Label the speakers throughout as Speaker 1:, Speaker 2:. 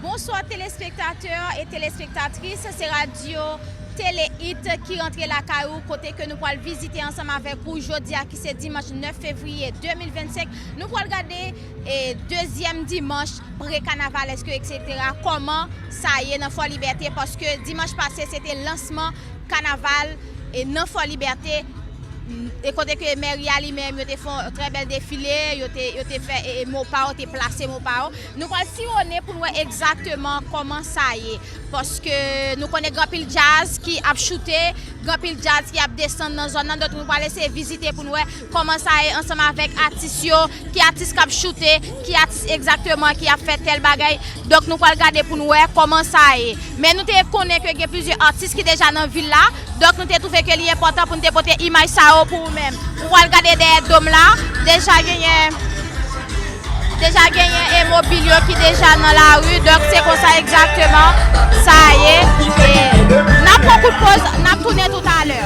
Speaker 1: Bonswa telespektatè e telespektatris se radyo tele it ki rantre lakay ou kote ke nou pwal vizite ansanm avèk ou jodia ki se dimanch 9 fevriye 2025 nou pwal gade e dezyèm dimanch pre kanavalèske eksetera kòman sa ye nan fò libète paske dimanch pase se te lansman kanaval e nan fò libète e kote ke mèri a li menm yo te fon trè bèl defile yo te fè e mopaw te plase mopaw. Nou pral siwone pou n wè egzakteman kòman sa ye. Paske nou konnen gen anpil djaz ki ap choute, gen anpil djaz ki ap desann nan zòn nan. Donk nou pral eseye vizite pou n wè kòman sa ye ansanm avèk atis yo. Ki atis k ap choute, ki atis egzakteman ki ap fè tèl bagay. Donk nou pral gade pou n wè kòman sa ye. Men nou te konnen ke gen plizyè atis ki deja nan vil la. Donk nou te twouve ke li enpòtan pou nou te pote imaj sa yo pou ou menm. Ou al gade dèyè dom la, deja genyen, deja genyen e mobil yo ki deja nan lari, donk se konsa egzakteman sa ye. E nap pran kout poz, nap tounen tout alè.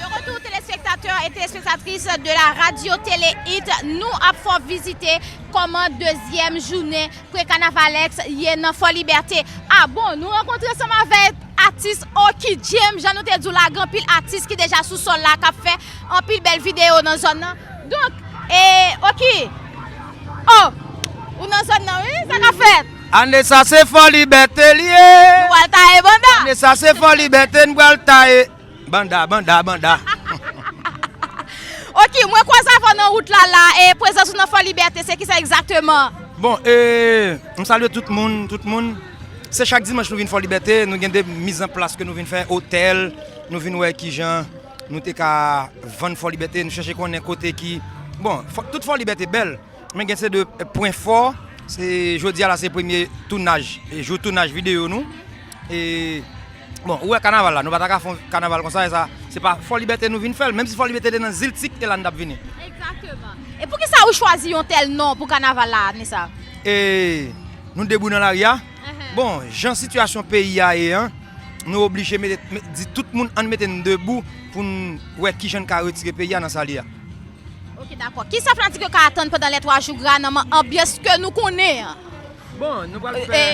Speaker 1: De retou telespektatè e telespektatris de la radio tele hit, nou ap fè w vizite. Kòman dezyèm jounen Prekanavalex ye nan Fòlibète? Ah bon, nou rankontre ansanm avèk atis Oky James, jan nou te di w la, gen anpil atis ki deja sou sòl la k ap fè anpil bèl videyo nan zòn nan. Donk, e Oky, oh! Ou nan zòn nan wi, sa k ap fèt? Ane sa se
Speaker 2: Fòlibète li ye! Nou pral taye
Speaker 1: banda! Ane sa se Fòlibète
Speaker 2: n pral taye! Banda banda banda.
Speaker 1: Ok mwen kwaz avèw nan wout la la e prezans ou nan fò libète se kisa egzakteman? Bon e
Speaker 2: m salye tout moun tout moun se chak dimanch nou vin fò libète nou gen de miz an plas ke nou vin fè otèl nou vin wè kijan nou te ka vann fò libète nou chèche konnen kote ki bon tout fò libète bèl men gen se de pwen fò se jodi a la se premye tounaj jou tounaj videyo nou e Bon, ou wè kanaval la, nou pa ta ka fè yon kanaval konsa e sa, se pa Fò Libète nou vin fè l, menm si Fò Libète te nan Ziltik, e la n t ap vini. Egzakteman.
Speaker 1: E pou ki sa ou chwazi yon tèl non pou kanaval la ane sa? E
Speaker 2: nou debouyi nan lari a. Bon, jan sitiyasyon peyi a ye an, nou oblije mete, di tout moun ann mete n debou pou n wè ki jan n ka retire peyi a nan sa li a. Ok, dakò.
Speaker 1: Ki sa fanatik yo ka atann pandan lè twa jou gra nan anbyans ke nou konnen an? Bon,
Speaker 2: nou pral fè.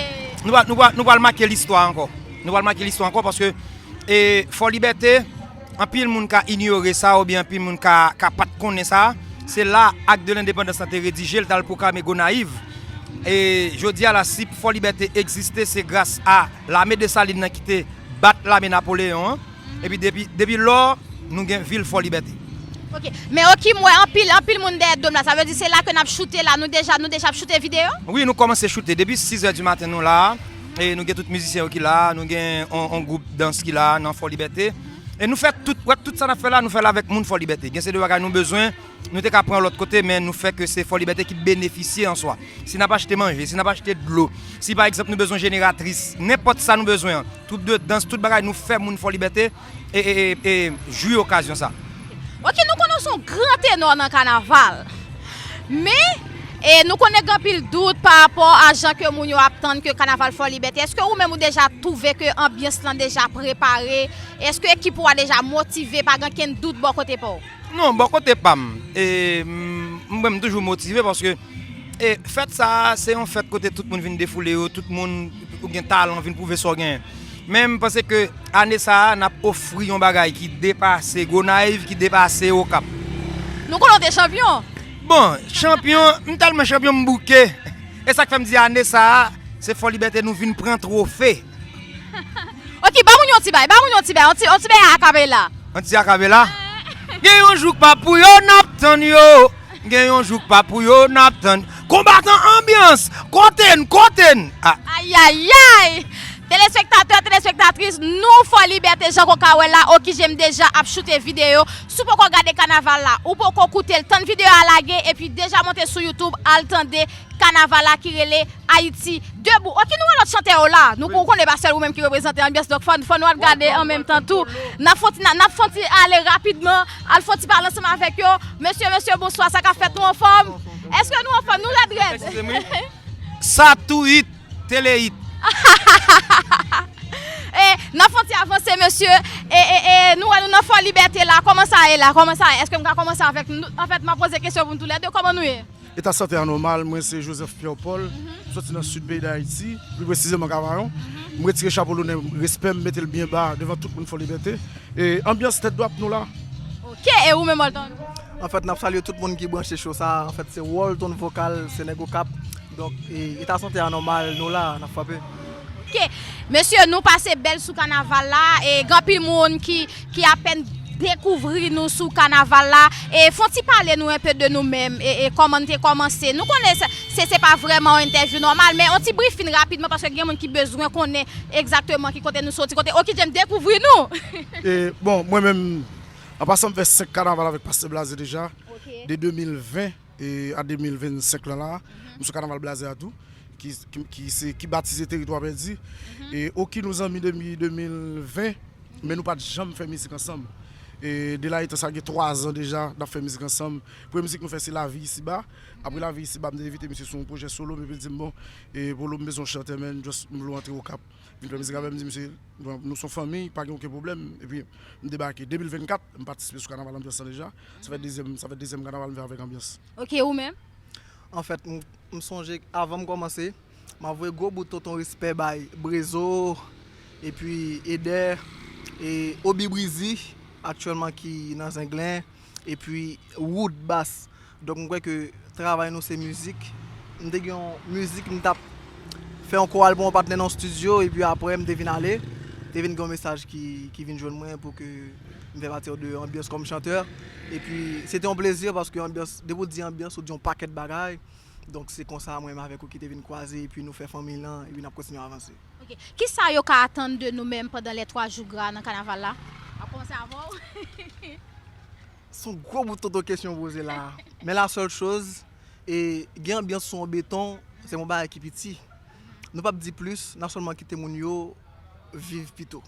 Speaker 2: Nou pral make listwa ankò. Nou pral make listwa ankò paske Fò Libète, anpil moun ka inyore sa oubyen anpil moun ka pa t konnen sa. Se la Ak de Lendepandans la te redije, l t al pwoklame Gonayiv. E jodi a la, si Fò Libète egziste, se gras a lame Desalin nan ki te bat lame Napoleyon an. Epi depi lò nou gen vil fò libète. Ok men
Speaker 1: ok m wè anpil anpil moun dèyè dom la sa vle di se la ke nap choute la nou deja nou deja ap choute video? Wi nou kòmanse choute
Speaker 2: depi 6 è di maten nou la e nou gen tout mizisyen yo ki la nou gen yon gwoup dans ki la nan fò libète e nou fè tout wè tout sa nap fè la nou fèl avèk moun fò libète gen se de bagay nou bezwen nou te ka pran lòt kote men nou fè ke se fò libète ki benefisye an swa si nap achte manje si nap achte dlo si pa egzanp nou bezwen jeneratris nenpòt sa nou bezwen an. Troup de dans, tout bagay nou fè moun Fòlibète e jwi okazyon sa. Ok nou konnen
Speaker 1: w son gran tenò nan kanaval men nou konnen gen anpil dout pa rapò a jan ke moun yo ap tann ke kanaval Fòlibète eske ou menm ou deja twouve ke anbyans lan deja prepare eske ekip ou a deja motive pa gen kenn dout bò kote pa w? Non, bò kote pa
Speaker 2: m, mwen menm m toujou motive paske fèt sa a se yon fèt kote tout moun vin defoule yo, tout moun ou gen talan vin pwouve sa w genyen. Men m panse ke ane sa a n ap ofri yon bagay ki depase Gonayiv, ki depase Okap. Nou konnen w te
Speaker 1: chanpyon. Bon,
Speaker 2: chanpyon, m tèlman chanpyon m bouke. E sa k fè m di ane sa a se Fòlibète nou vin pran twofe.
Speaker 1: Ok ba moun yon ti bay ba moun yon ti bay yon ti yon ti bèy akapela. Yon ti akapela
Speaker 2: Gen yon jou k pa pou yo nap tann yo Gen yon jou k pa pou yo nap tann Konbatan anbyans kote n kote n ah. Ayayay!
Speaker 1: Telespektatè, telespektatris, nou fò libète jan konka wè la okije m deja ap choute videyo Si w poko gade kanaval la, ou poko koute l tann videyo a lage epi deja monte sou youtube al tande Kanaval la ki rele Ayiti debou. Ok nou wè lòt chantè yo la. Nou ou konnen e pa sèl ou menm ki reprezante anbyans donk fò fò nou al gade an menm tan tou. Nap fon ti nap fon ti ale rapidman al fon ti pale ansanm avèk yo. Mesye mesye bonswa sa kap fèt nou anfòm? Eske nou anfòm nou rèd rèd?
Speaker 2: Sa tou hit,
Speaker 1: tele hit.
Speaker 2: E
Speaker 1: nap fon ti avanse mesye e e e nou wè nou nan fò libète la kòman sa ye la kòman sa ye? Eske m ka kòmanse avèk nou? Anfèt map poze kesyon pou nou tou lè 2 kòman nou ye? Eta sante a nòmal.
Speaker 3: Mwen se Joseph Pierre Paul, m sòti nan Sid peyi Dayiti, pi presizeman Kavayon. M retire chapo lonè m, respè m, m mete l byen ba devan tout moun Fòlibète. E anbyans tèt dwat nou la. Ok! E ou
Speaker 1: menm Walton? Anfèt, n ap salye
Speaker 4: tout moun ki branche show sa a. Anfèt, se Walton Vocal, se nèg Okap. Donk, eta sante a nòmal, nou la, n ap frape. Ok
Speaker 1: mesye nou pase bèl sou kanaval la e gen anpil moun ki apèn dekouvri nou sou kanaval la e fon ti pale nou enpe de nou menm e kòman nou te kòmanse nou konnen se se pa vrèman yon entèvyou nòmal men yon ti brifing rapidman paske gen moun ki bezwen konnen egzakteman ki kote nou soti kote Okidjèm dekouvri nou. E bon
Speaker 3: mwen menm an pasan m fè 5 kanaval avèk pastè Blaze deja de 2020. E an 2025 lan la, nou sou kanaval blaze a tou, ki batize Teritwa Pèdi. E Oki nou zanmi depi 2020, men nou pa t janm fè mizik ansanm. E de la etan sa gen 3 zan deja n ap fè mizik ansanm. Premye mizik nou fè se Lavi Isi Ba. Apre Lavi Isi Ba m te envite misye sou yon pwojè solo m epi l di m bon, Polo m bezwen yon chantè men, m vle w antre Okap. Vin fè mizik avè m di misye nou son fanmiy pa gen oken pwoblèm epi m debake 2024 m patisipe sou kanaval anbyans lan deja sa fè dezyèm sa fè dezyèm kanaval m fè avèk anbyans. Ok ou menm?
Speaker 1: Anfèt
Speaker 4: m sonje avan m kòmanse m ap voye gwo bout tonton respè bay Brezo epi Eder e Oby Breezy aktyèlman ki nan Zenglen. epi wood bass donk m kwè ke travay nou se mizik m te gen yon mizik m tap fè yon koral pou yon patnè nan yon studio epi aprè m te vin ale te vin gen yon mesaj ki vin jwenn mwen pou ke m fè pati de anbyans kòm chantè epi se te yon plezi paske anbyans depi w di anbyans ou di yon pakèt bagay donk se konsa mwen menm avèk Oki te vin kwaze epi nou fè fanmiy lan epi n ap kontinye avanse. Ok. Kisa yo
Speaker 1: ka atann de nou menm pandan les 3 jours gras nan kanaval la? Map komanse avè w. Son
Speaker 4: gwo bout tonton kesyon ou poze la. Men la sèl choz, e gen anbyans sou yon beton, se yon bagay ki piti. Nou pap di plis, nap sèlman kite moun yo viv pito.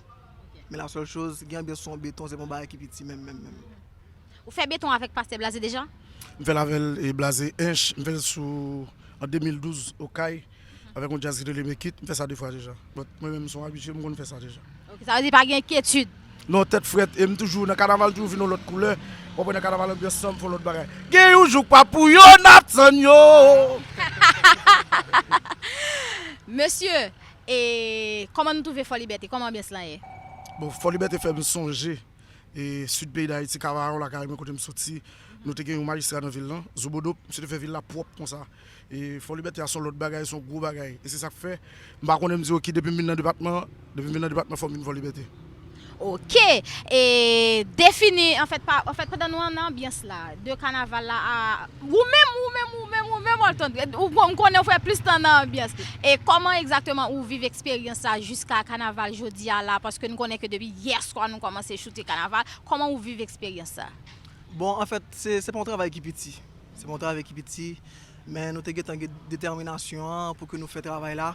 Speaker 4: Men la sèl choz, gen anbyans sou yon beton, se yon bagay ki piti menm menm menm. Ou fè
Speaker 1: beton avèk Pastè Blaze deja? M fèl avèl
Speaker 3: e Blaze Hinche, m fèl sou an 2012 Okay. Avèk yon jazz ki rele Make it, m fè sa 2 fwa deja. But mwen menm m son abitye, m konn fè sa deja. Ok, sa vle di pa gen
Speaker 1: enkyetid. Non, tèt frèt,
Speaker 3: e m toujou, nan kanaval toujou vin yon lòt koulè. Wap wè nan kanaval anbyans san fon lòt bagay. Gen yon jou k pa pou yo nap tann yo.
Speaker 1: Mesye, e kòman nou twouve Fò Libète, kòman anbyans lan ye? Bon, Fò Libète
Speaker 3: fè m sonje e Sid peyi Dayiti, Kavayon lakay mwen kote m soti. Nou te gen yon majistra nan vil lan, Zobodo, misye te fè vil la pwòp konsa. E Fòlibète a s on lòt bagay, s on gwo bagay. E se sa k fè, m pa konnen m di oki depi m vin nan depatman an, depi m vin nan depatman fò m vin Fòlibète. Oke!
Speaker 1: E defini anfèt pa, anfèt pandan nou an nan anbyans la, de kanaval la a, ou menm, ou menm, ou menm, ou menm Olton, ou bon, m konnen ou fè plis tan nan anbyans. E kòman egzakteman ou viv eksperyans sa jiska kanaval jodi a la, paske n konnen ke depi yè swa nou kòmanse choute kanaval, kòman ou viv eksperyans sa? Bon, anfèt,
Speaker 4: se, se pa yon travay ki piti. Se pa yon travay ki piti, men nou te gentan gen detèminasyon an pou ke nou fè travay la.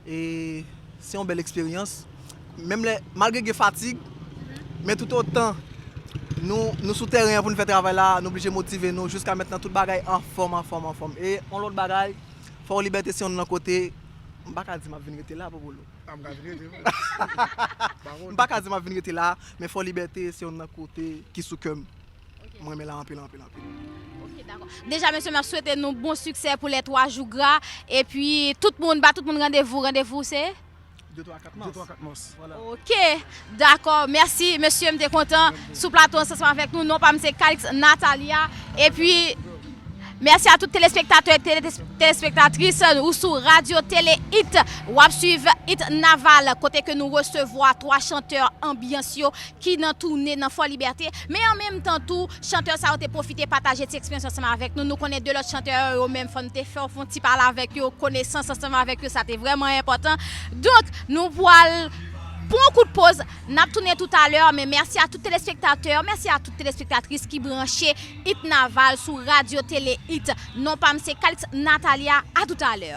Speaker 4: E se yon bèl eksperyans. Menm lè, malgre gen fatig, men tout otan nou sou tèren an pou nou fè travay la, nou blije motive nou. Jiska mentnan tout bagay anfòm, anfòm, anfòm. E yon lòt bagay, Fò Libète se yon nan kote, m pa ka di m ap vin rete la, Pou Bolo. A, m ka vin rete vre. M pa ka di m ap vin rete la, men Fò Libète se yon nan kote ki sou kè m. M renmen la anpil anpil anpil. Ok dakò.
Speaker 1: Deja mesye map swete nou bon siksè pou lè 3 jou gra epi tout moun ba tout moun randevou randevou se 2 3 4 mars 2 3
Speaker 3: 4 mars voilà. Ok
Speaker 1: dakò mèsi mesye m te kontan sou plato an seman avèk nou non pam se Calix Natalia epi mèsi a tout telespektatè ak telespektatris ou sou radio tele it wap swiv it naval kote ke nou resevwa 3 chantè anbyans yo. ki nan toune nan Fò Libète, men an menm tan tou, chantè sa yo te pwofite pataje ti eksperyans ansanm avèk nou, nou konnen 2 lòt chantè yo, yo menm fò n te fè yon ti pale avèk yo, konesans ansanm avèk yo, sa te vrèman enpòtan. Donk, nou pwal pran yon kout poz, n ap tounen toutalè, men mèsi a tout telespektatè, mèsi a tout telespektatris ki branche It Naval sou Radio Tele It. Non pa m se Calixte Nathalia, a toutalè.